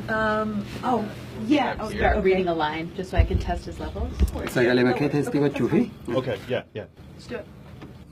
Um, oh, yeah. Oh, yeah. Okay. Reading a line, just so I can test his levels. Sagalee bakkee teestii gochuu fi. Okay, yeah, yeah. Let's do it.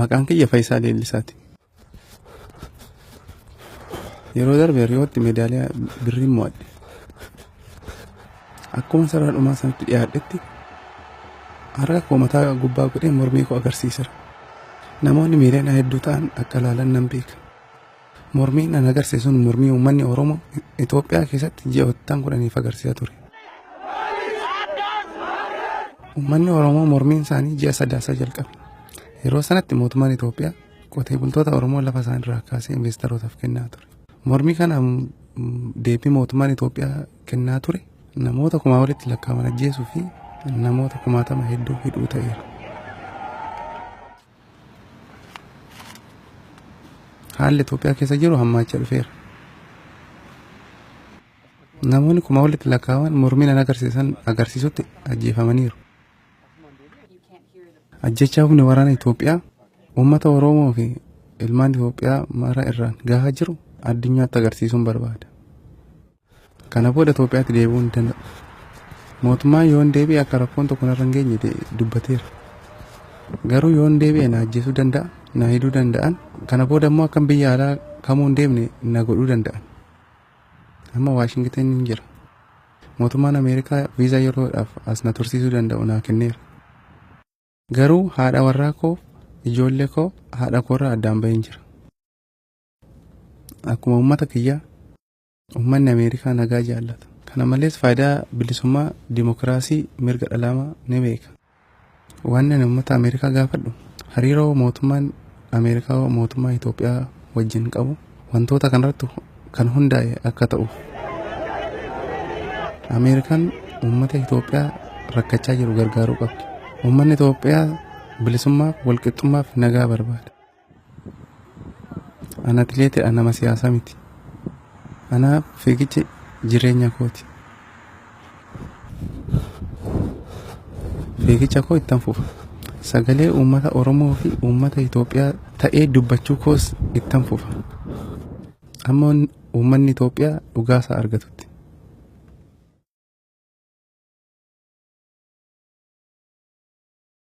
Maqaan kiyya Fayisaa Leellisaati. Yeroo darbe Riyootti meedaaliyaa birrii mo'adhe. Akkuma sarara dhumaa sanatti dhiyaadhetti harka koo mataa gubbaa godhee mormii koo agarsiisera. Namoonni miiliyoona hedduu ta'an akka ilaalan nan beeka. Mormiin an agarsiise sun mormii uummanni Oromoo Itoophiyaa keessatti ji'oottan kudhaniif agarsiisaa ture. Uummanni Oromoo mormiin isaanii ji'a sadaasaa jalqabe. Yeroo sanatti mootummaan Itoophiyaa qotee bultoota Oromoo lafa isaan irraa kaasee investeerootaaf kennaa ture. Mormii kana deebii mootummaan Itoophiyaa kennaa ture namoota kumaa walitti lakkaa'aman ajjeesuu fi namoota kumaatama hedduu hidhuu ta'eera. Haalli Itoophiyaa keessa jiru hammaachaa dhufeera. Namoonni kuma walitti lakkaa'aman mormii nan agarsiisan agarsiisutti ajjeefamaniiru. Ajjechaa humni waraana Itoophiyaa uummata Oromoo fi ilmaan Itoophiyaa mara irraan gahaa jiru addunyaatti agarsiisuun barbaada. Kana booda Itoophiyaatti deebi'uu ni danda'a. Mootummaan yoon deebi'e akka rakkoon tokko narra hin geenye dubbateera. Garuu yoon deebi'e na ajjeesuu danda'a, na hidhuu danda'an. Kana booda immoo akkan biyya alaa kamuu hin deemne na godhuu danda'an. Amma Waashingitan hin jira. Mootummaan Ameerikaa viizaa yeroodhaaf as na tursiisuu danda'u naa kenneera. Garuu haadha warraa koo, ijoollee koo, haadha koorraa addaan baheen jira. Akkuma uummata kiyyaa Uummanni Ameerikaa nagaa jaallata. Kana malees faayidaa bilisummaa, dimokiraasii, mirga dhalaamaa ni beeka. Waan ani uummata Ameerikaa gaafadhu hariiroo mootummaan Ameerikaa mootummaa Itoophiyaa wajjin qabu wantoota kanarratti kan hundaa'e akka ta'uuf. Ameerikaan uummata Itoophiyaa rakkachaa jiru gargaaruu qabdi. Uummanni Itoophiyaa bilisummaaf, walqixxummaaf nagaa barbaada. An atileeti an nama siyaasaa miti. Anaaf fiigichi jireenya kooti. Fiigicha koo ittan fufa. Sagalee uummata Oromoo fi uummata Itoophiyaa ta'ee dubbachuu koos ittan fufa. Amma uummanni Itoophiyaa dhugaasaa argatutti.